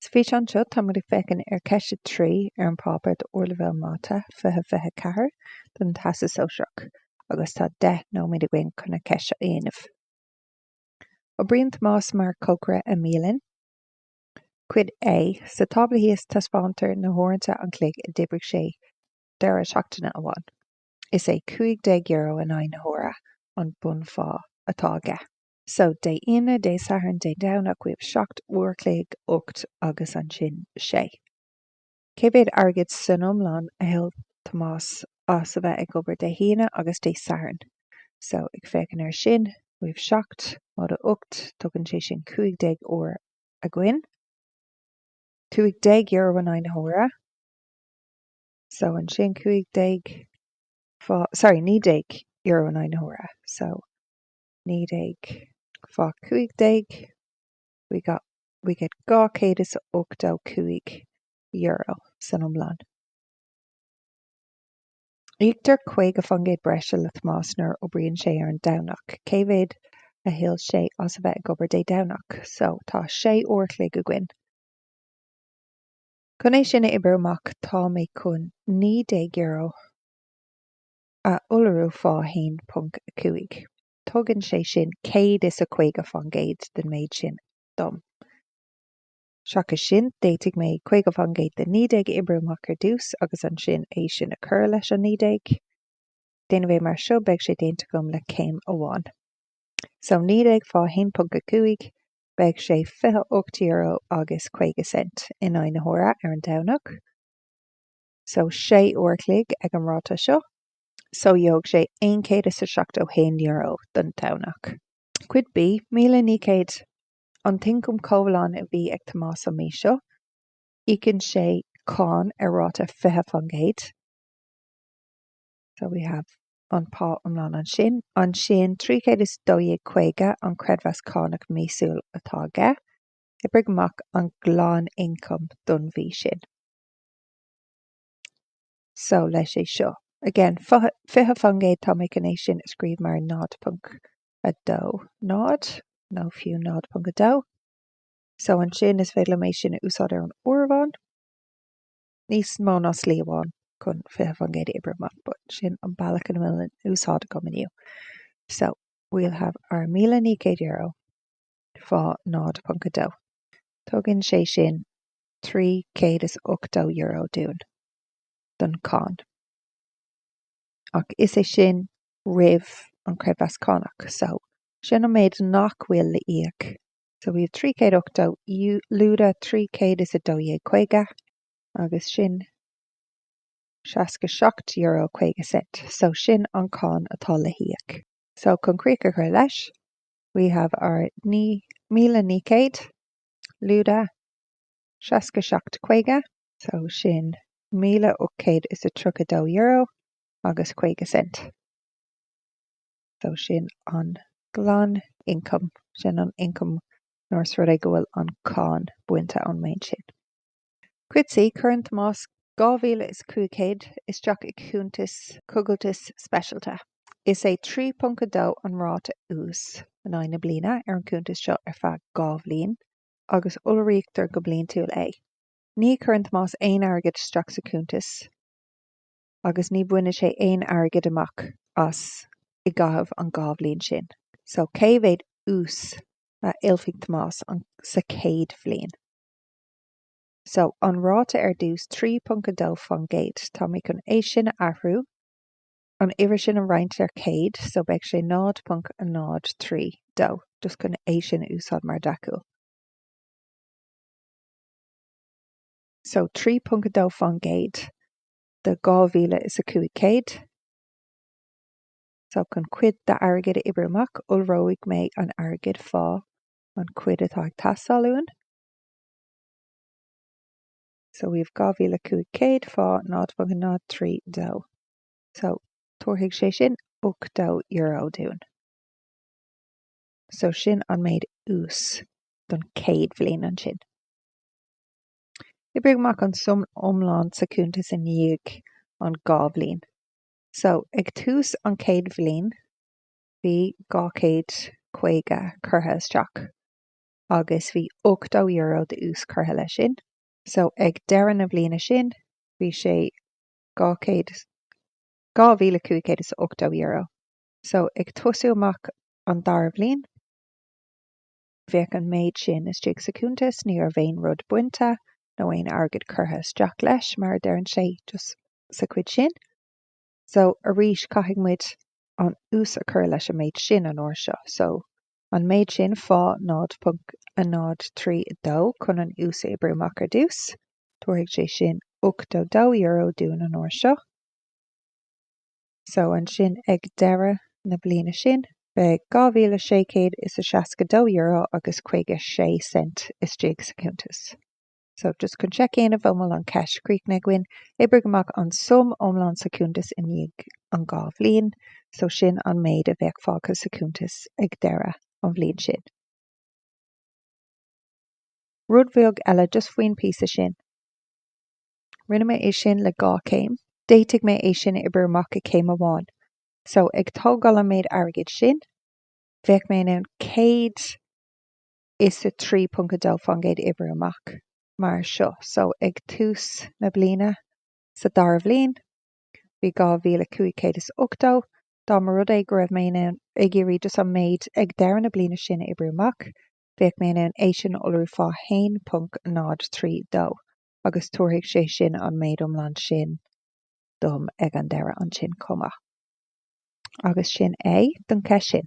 Sa bhfíseán seo, táimid ag féachaint ar Cheist 3 ar an bPáipéar Ardleibhéal Mata 2024 don Teastas Sóisearach agus tá 10 nóiméad againn chun an cheist seo a dhéanamh. Oibríonn Tomás mar chócaire i mbialann. Cuid A, Sa tábla thíos taispeántar na huaireanta an chloig a d'oibrigh sé deireadh seachtaine amháin. Is é €15 in aghaidh na huaire an bunphá atá aige. So, Dé hAoine, Dé Sathairn, Dé Domhnach, we have seacht uair a chloig, ocht agus ansin sé. Cé mhéad airgid san iomlán a thuill Tomás as a bheith ag obair Dé hAoine agus Dé Sathairn? So, ag féachaint air sin, we have seacht móide ocht, tugann sé sin cúig déag uair againn. Cúig déag euro in aghaidh na huaire. So, ansin cúig déag fá, sorry, naoi déag euro in aghaidh na huaire. So. 19 fá 15 we got we get €285 san iomlán. Íoctar 50 faoin gcéad breise le Tomás nuair a oibríonn sé ar an Domhnach. Cé mhéad a thuill sé as a bheith ag obair Dé Domhnach? So, tá sé uair a chloig againn. Chun é sin a oibriú amach, tá mé chun €19. a iolrú fá 1.5. Tugann sé sin céad is a caoga faoin gcéad den méid sin dom. Seachas sin, d'fhéadfadh mé caoga faoin gcéad den naoi déag a oibriú amach ar dtús, agus ansin é sin a chur leis an naoi déag. Déanamh é mar seo, beidh sé déanta agam le céim amháin. So, naoi déag fá 1.5, beidh sé fiche ocht euro agus caoga cent in aghaidh na huaire ar an Domhnach. so 6 uair a chloig ag an ráta seo so gheobhadh sé 171 euro don Domhnach. Cuid B, 1900 An t-ioncam comhlán a bhí ag Tomás an mí seo, íocann sé cáin ar ráta 20%, so we have an pá iomlán ansin, ansin 312.50 an creidmheas cánach míosúil atá aige, oibrigh amach an glanioncam don mhí sin. so leis é seo. Again, fiche faoin gcéad tá mé chun é sin a scríobh mar 0.20, nó fiú 0.2, so ansin is féidir liom é sin a úsáid ar an áireamhán, níos mó ná slí amháin chun fiche faoin gcéad a oibriú amach, but sin an bealach a bhfuil in úsáid agam inniu. So, we'll have our míle naoi gcéad euro fá 0.2. Tugann sé sin €380 dúinn don cháin, ach is é sin roimh an creidmheas cánach so sin an méid nach bhfuil le íoc so we have €380 lúide €312.50 agus sin €67 caoga cent so sin an cháin atá le híoc so chun críoch a chur leis we have our naoi míle naoi céad Lúide 67.50. So sin €1,832 agus 50 cent. So sin an glan ioncam, sin an ioncam nuair is rud é go bhfuil an cáin bainte ón méid sin. Cuid C, cuireann Tomás 2500 isteach i gcuntas coigiltis speisialta. Is é 3.2 an ráta úis in aghaidh na bliana ar an gcuntas seo ar feadh dhá bhliain, agus iolraítear go bliantúil é. Ní chuireann Tomás aon airgead isteach sa chuntas, agus ní bhaineann sé aon airgead amach as i gcaitheamh an dhá bhliain sin. So, cé mhéad úis a thuillfidh Tomás sa chéad bhliain? So, an ráta ar dtús, 3.2 faoin gcéad, tá mé chun é sin a athrú, an uimhir sin a roinnt ar 100, so beidh sé 0.032, just chun é sin a úsáid mar deachúil. So, 3.2 faoin gcéad de dhá mhíle is a cúig céad. So, chun cuid d'airgead a oibriú amach, iolróidh mé an airgead fá an chuid atá ag teastáil uainn. So we have 2,500 fá 0.032. So tabharfaidh sé sin €80 dúinn. So sin an méid ús don céad bhliain ansin. Oibrigh amach an suim iomlán sa cuntas i ndiaidh an dhá bhliain. So ag tús an chéad bhliain bhí 250 curtha isteach. agus bhí ochtó euro d'ús curtha leis sin. So ag deireadh na bliana sin bhí sé dhá chéad, dhá mhíle cúig chéad is ochtó euro. So ag tosú amach an dara bhliain bheadh an méid sin istigh sa chuntas, ní raibh aon rud bainte nó aon airgead curtha isteach leis, mar a deireann sé, just sa chuid sin. So arís caithfidh muid an ús a chur leis an méid sin an uair seo. So. an méid sin fá 0.032 chun an ús a oibriú amach ar dtús. Tabharfaidh sé sin €82 dúinn an uair seo. So, ansin ag deireadh na bliana sin, beidh dhá mhíle sé chéad is a seasca dó euro agus caoga sé cent istigh sa chuntas. So, just chun seic a dhéanamh an bhfuil an cheist críochnaithe againn, oibrigh amach an sum iomlán sa chuntas i ndiaidh an dhá bhliain, so sin an méid a bheadh fágtha sa chuntas ag deireadh an bhliain sin. Rud bheag eile just faoin píosa sin. Rinne mé é sin le dhá chéim. D'fhéadfadh mé é sin a oibriú amach i céim amháin. So, ag tógáil an méid airgid sin, bheadh mé in ann céad, is 3.2% a oibriú amach mar seo so ag tús na bliana sa dara bhliain bhí 2,580 dá mba rud é go raibh mé ag iarraidh just an méid ag deireadh na bliana sin a oibriú amach bheadh mé in ann é sin a iolrú fá 1.032 agus tabharfaidh sé sin an méid iomlán sin dom ag an deireadh ansin chomh maith. Agus sin é don cheist sin.